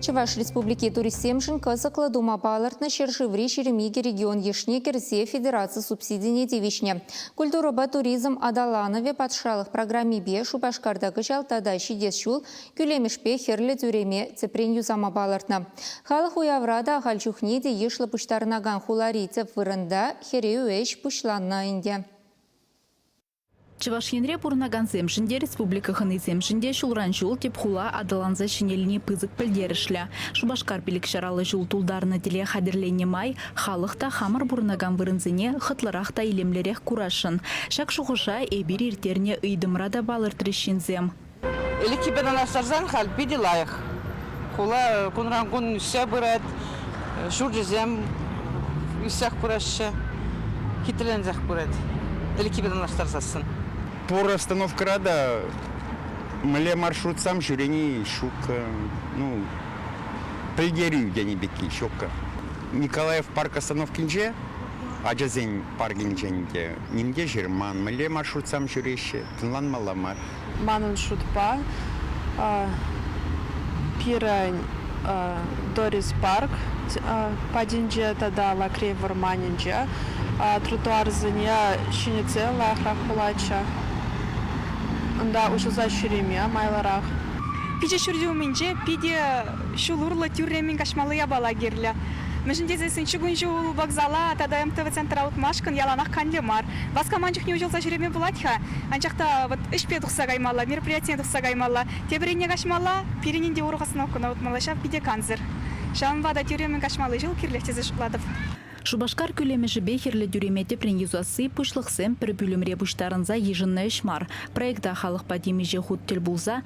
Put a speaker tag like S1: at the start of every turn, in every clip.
S1: Чӑваш Республики туристсемшӗн кӑсӑклӑ тума палӑртнӑ ҫӗршыври ҫирӗм икӗ регион йышне кӗрсе федераци субсидине тивӗҫнӗ «Культурӑпа туризм аталанӑвӗ патшалӑх» программипе Шупашкарта кӑҫал тата ҫитес ҫул кӳлемӗшпе Хӗрлӗ тӳреме тӗпрен юсама палӑртнӑ. Халӑх уявра та ахаль чухне те йышлӑ пуҫтарӑнакан хулари тӗп вырӑнта хӗрӳ ӗҫ пуҫланнӑ ӗнтӗ. Чӑваш
S2: Енре пурӑнакансемшӗн те, республика хӑнисемшӗн те ҫулран-ҫул тӗп хула аталанса ҫӗнелни пысӑк пӗлтерӗшлӗ. Шупашкар пилӗкҫараллӑ ҫул тултарнӑ тӗле хатӗрленнӗ май халӑх та хамӑр пурӑнакан вырӑнсене хӑтлӑрах та илемлӗрех курасшӑн. Ҫак шухӑша эпир ирттернӗ ыйтӑмра та палӑртрӗҫ ҫынсем. Ӗлӗкхипе
S3: танлаштарсан халь питӗ лайӑх. Хула кунран-кун ӳссе пырать, ҫурчӗсем ӳссех пыраҫҫӗ, хитреленсех пырать. Ӗлӗкхипе танлаштарсассӑн. Пур
S4: остановкӑра та мӗнле маршрутсам ҫӳрени ҫуккӑ. Ну, пӗлтерӳ тени пекки ҫуккӑ. Николаев парк остановкинче, ачасен паркӗнчен те ним те ҫырман, мӗнле маршрутсам ҫӳреҫҫӗ, тӑнланмалла мар. Манӑн шутпа,
S5: пирӗн Дорис Парк патӗнче тата Лакрей вӑрманӗнче тротуарсене ҫӗнетсе лайӑхрах пулатчӗ. Унта уҫӑлса ҫӳреме майлӑрах. Пичӗ ҫурчӗ
S6: умӗнче питӗ ҫул урлӑ тӳрремӗн каҫмалли япала кирлӗ. Мӗншӗн тесессӗн чукун ҫул вокзала тата МТВ центра утмашкӑн яланах канлӗ мар. Васкаман чухне уҫӑлса ҫӳреме пулать-ха, Анчах та вӑт ӗҫпе тухса каймалла, мероприятине тухса каймалла. Тепӗр енне каҫмалла, пирӗн ӗнтӗ урӑх остановкӑна утмалла, ҫав питӗ кансӗр. Ҫавӑнпа та тӳремӗн каҫмалли ҫул кирлех тесе шутлатӑп. Шупашкар
S2: кӳлемӗшӗпе хӗрлӗ тӳреме тӗпрен юсасси пуҫлӑхсем пӗр пӳлӗмре пуҫтарӑнса йышӑннӑ ӗҫ мар. Проекта халӑхпа темиҫе хут тӗл пулса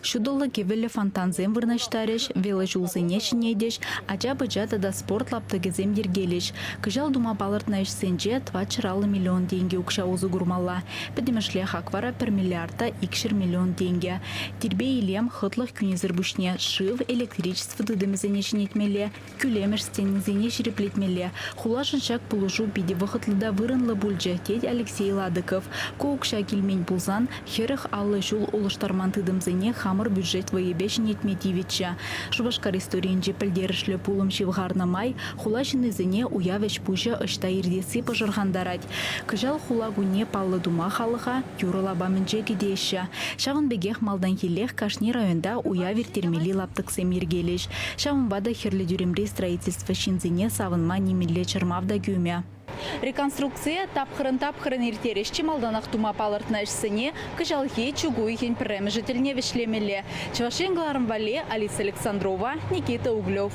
S2: Ҫутӑллӑ кӗвӗллӗ фонтансем вырнаҫтарӗҫ, велоҫулсене ҫӗнетӗҫ, ача-пӑча тата спорт лаптӑкӗсем йӗркелӗҫ. Кӑҫал тума палӑртнӑ ӗҫсенче тӑватҫӗр аллӑ миллион тенкӗ укҫа усӑ курмалла. Пӗтӗмӗшле хак вара пӗр миллиарда икҫӗр миллион тенкӗ. Тирпей-илем, хӑтлӑх кӳнисӗр пуҫне шыв, электричество тытӑмӗсене ҫӗнетмелле, Кӳлемӗш стенисене ҫирӗплетмелле. Хулашӑн ҫак пулӑшу питӗ вӑхӑтлӑ та вырӑнлӑ пулчӗ, тет Алексей Ладыков. Ку укҫа килмен пулсан, хӗрӗх аллӑ ҫул улӑштарман тытӑмсене хамӑр бюджет вӑйӗпе ҫӗнетме тивӗччӗ. Шупашкар историйӗнче пӗлтерӗшлӗ пулӑм ҫывхарнӑ май хула ҫыннисене уяв ӗҫ-пуҫӗ ӑҫта иртесси пӑшӑрхантарать. Кӑҫал хула кунне паллӑ тума халӑха юрӑ лапамӗнче кӗтеҫҫӗ. Ҫавӑн пекех малтанхиллех кашни районта уяв ирттермелли лаптӑксем йӗркелӗҫ. Ҫавӑнпа та Хӗрлӗ тӳремри строительство ҫынсене савӑнма нимӗнле чӑрмав та кӳмӗ. Реконструкцие тапхӑрӑн-тапхӑрӑн ирттерӗҫ, чи малтанах тума палӑртнӑ ӗҫсене кӑҫалхи чӳк уйӑхӗн пӗрремӗшӗ тӗлне вӗҫлемелле, Чӑваш Ен кӑларӑм валли Алиса Александрова, Никита Углев.